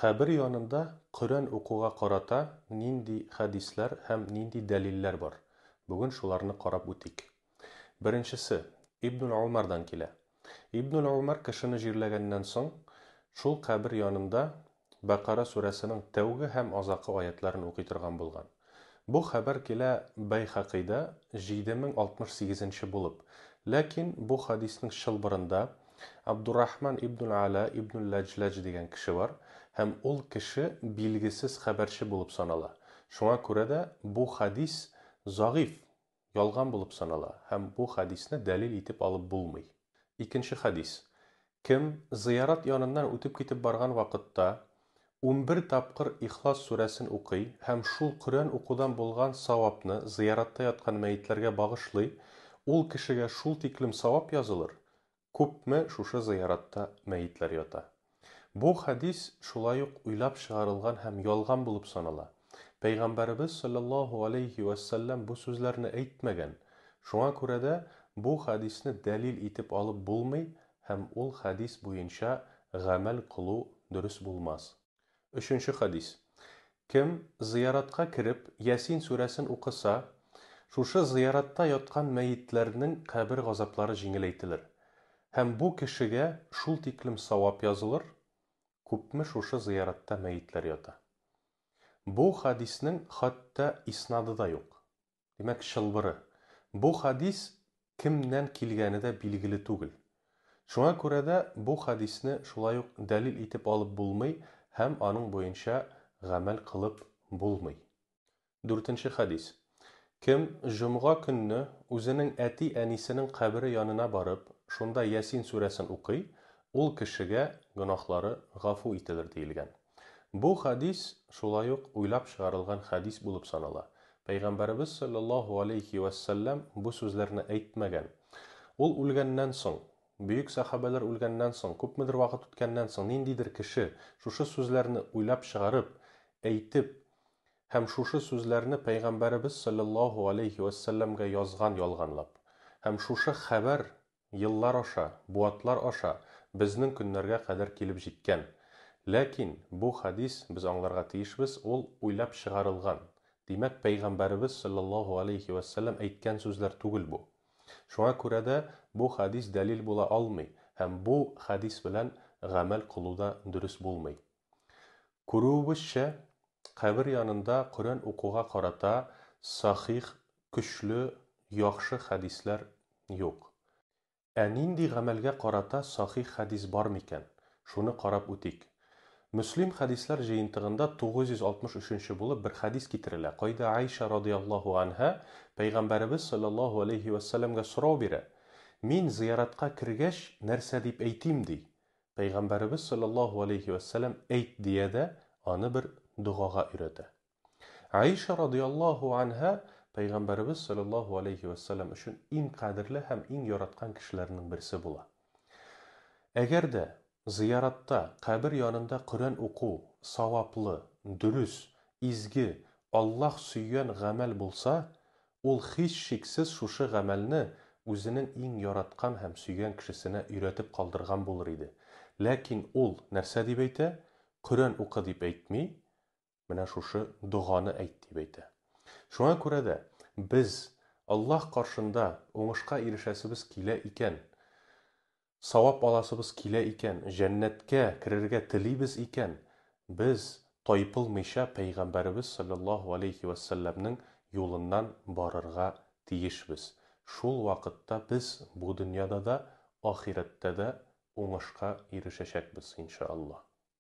Кабер янында Коръән укуга карата нинди хәдисләр һәм нинди дәлилләр бар? Бүген шуларны карап үтик. Беренчесе, Ибнуль Умардан килә. Ибнуль Умар кешене җирләгәннән соң, шул кабер янында Бәкара сүрәсенең тәүге һәм азакы аятьләрен укый торган булган. Бу хәбәр килә Бәйхәкыйдә 7068-нче булып. Ләкин бу хәдиснең чылбырында Абдуррахман ибнуль-Ала ибнуль-Ләҗләҗ дигән кеше бар һәм ул кеше билгесез хәбәрче булып санала. Шуңа күрә дә бу хәдис загыйфь ялган булып санала һәм бу хәдисне дәлил итеп алып булмый. Икенче хәдис, Кем зыярат яныннан үтеп китеп барган вакытта унбер тапкыр Ихлас сүрәсен укый һәм шул Коръән укудан булган савапны зыяратта яткан мәетләргә багышлый, ул кешегә шул тиклем савап язылыр, күпме шушы зыяратта мәетләр ята. Бу хәдис шулай ук уйлап чыгарылган һәм ялган булып санала. Пәйгамбәребез салләллаһу галәйһи вә сәлләм бу сүзләрне әйтмәгән. Шуңа күрә дә бу хәдисне дәлил итеп алып булмый һәм ул хәдис буенча гамәл кылу дөрес булмас. Өченче хәдис. Кем, зыяратка кереп, Ясин сүрәсен укыса, шушы зыяратта яткан мәетләрнең кабер газаплары җиңеләйтелер. Һәм бу кешегә шул тиклем савап язылыр, күпме шушы зыяратта мәетләр ята. Бу хәдиснең хәтта иснады да юк. Димәк, чылбыры. Бу хәдис кемнән килгәне дә билгеле түгел. Шуңа күрә дә бу хәдисне шулай ук дәлил итеп алып булмый һәм аның буенча гамәл кылып булмый. Дүртенче хәдис. Кем җомга көнне үзенең әти-әнисенең кабере янына барып, шунда Ясин сүрәсен укый, ул кешегә гөнаһлары гафу ителер диелгән. Бу хәдис шулай ук уйлап чыгарылган хәдис булып санала. Пәйгамбәребез салләллаһу галәйһи вә сәлләм бу сүзләрне әйтмәгән. Ул үлгәннән соң, бөек сәхабәләр үлгәннән соң, күпмедер вакыт үткәннән соң, ниндидер кеше шушы сүзләрне уйлап чыгарып, әйтеп һәм шушы сүзләрне пәйгамбәребез салләллаһу галәйһи вә сәлләмгә язган ялганлап. Һәм шушы хәбәр Еллар аша, буатлар аша безнең көннәргә кадәр килеп җиткән. Ләкин, бу хәдис, без аңларга тиешбез, ул уйлап чыгарылган, димәк, пәйгамбәребез салләллаһу галәйһи вә сәлләм әйткән сүзләр түгел бу. Шуңа күрә дә бу хәдис дәлил була алмый һәм бу хәдис белән гамәл кылу да дөрес булмый. Күрүебезчә, Кабер янында Коръән укуга карата сахих, көчле, яхшы хәдисләр юк. Ә нинди гамәлгә карата сахих хәдис бар микән? Шуны карап үтик. Мөслим хәдисләр җыентыгында 963 булып бер хәдис китерелә, кайда Гайшә радыяллаһу анһа Пәйгамбәребез салләллаһу аләйһи вәссәләмгә сорау бирә, Мин зыяратка кергәч, нәрсә дип әйтим? ди. Пәйгамбәребез салләллаһу алейһи вә сәлләм әйт дия дә, аны бер догага өйрәтә. Аиша радыяллаһу анһа Пәйгамбәребез салләллаһу алейһи вә сәлләм өчен иң кадерле һәм иң яраткан кешеләрнең берсе була. Әгәр дә зыяратта, кабер янында Коръән уку, саваплы, дөрес, изге, Аллаһ сөйгән гамәл булса, Ул һичшиксез шушы гамәлне үзенең иң яраткан һәм сөйгән кешесенә өйрәтеп калдырган булыр иде. Ләкин ул нәрсә дип әйтә? Коръән укы дип әйтми, менә шушы доганы әйт дип әйтә. Шуңа күрә дә, без Аллаһ каршында уңышка ирешәсебез килә икән, савап аласыбыз килә икән, җәннәткә керергә телибез икән, без, тайпылмыйча, Пәйгамбәребез салләллаһу галәйһи вә сәлләмнең юлыннан барырга тиешбез. Шул вакытта без бу дөньяда да, ахирәттә дә уңышка ирешәчәкбез, иншаАллаһ.